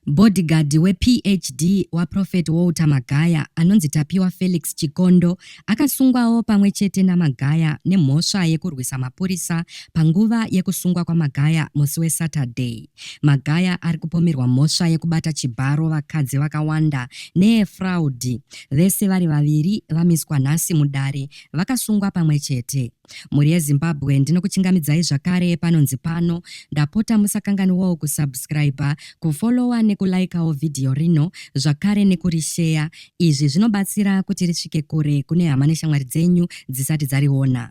Bhodhigadhi wePHD waProphet Walter Magaya anonzi Tapiwa Felix Chikondo akasungwawo pamwe chete naMagaya nemhosva yekurwisa mapurisa panguva yekusungwa kwaMagaya musi weSaturday. Magaya ari kupomerwa mhosva yekubata chibharo vakadzi vakawanda neyefraudi. Vese vari vaviri vamiswa nhasi mudare vakasungwa pamwe chete. Mhuri yeZimbabwe ndinokuchingamidzai zvakare panonzi pano. Ndapota musakanganiwawo kusubscriber, kufollowa nekulaikawo vhidhiyo rino zvakare nekurisheya. Izvi zvinobatsira kuti risvike kure kune hama neshamwari dzenyu dzisati dzariona.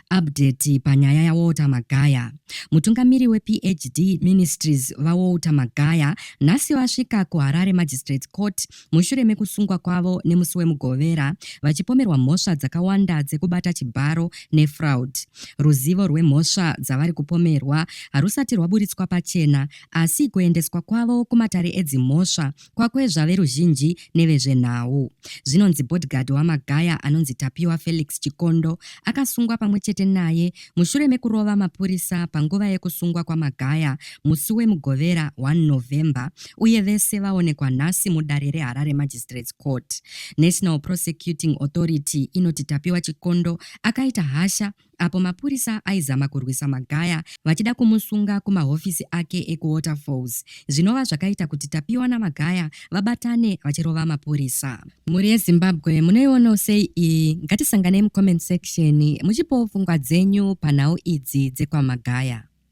Update panyaya yaWalter Magaya. Mutungamiri wePHD Ministries, VaWalter Magaya, nhasi vasvika kuHarare Magistrate Court mushure mekusungwa kwavo nemusi weMugovera vachipomerwa mhosva dzakawanda dzekubata chibharo nefraud. Ruzivo rwemhosva dzavari kupomerwa harusati rwaburitswa pachena asi kuendeswa kwavo kumatare edzimhosva kwakwezva veruzhinji nevezvenhau. Zvinonzi bodyguard waMagaya anonzi Tapiwa Felix Chikondo akasungwa pamwe chete naye mushure mekurova mapurisa panguva yekusungwa kwaMagaya musi weMugovera 1 November uye vese vaonekwa nhasi mudare reHarare Magistrates Court. National Prosecuting Authority inoti Tapiwa Chikondo akaita hasha apo mapurisa aizama kurwisa Magaya vachida kumusunga kumahofisi ake ekuWaterfalls zvinova zvakaita kuti Tapiwa naMagaya vabatane vachirova mapurisa. Mhuri yeZimbabwe munoionawo sei iyi? Ngatisanganei mucomment section muchipawo pfungwa dzenyu panhau idzi dzekwamagaya.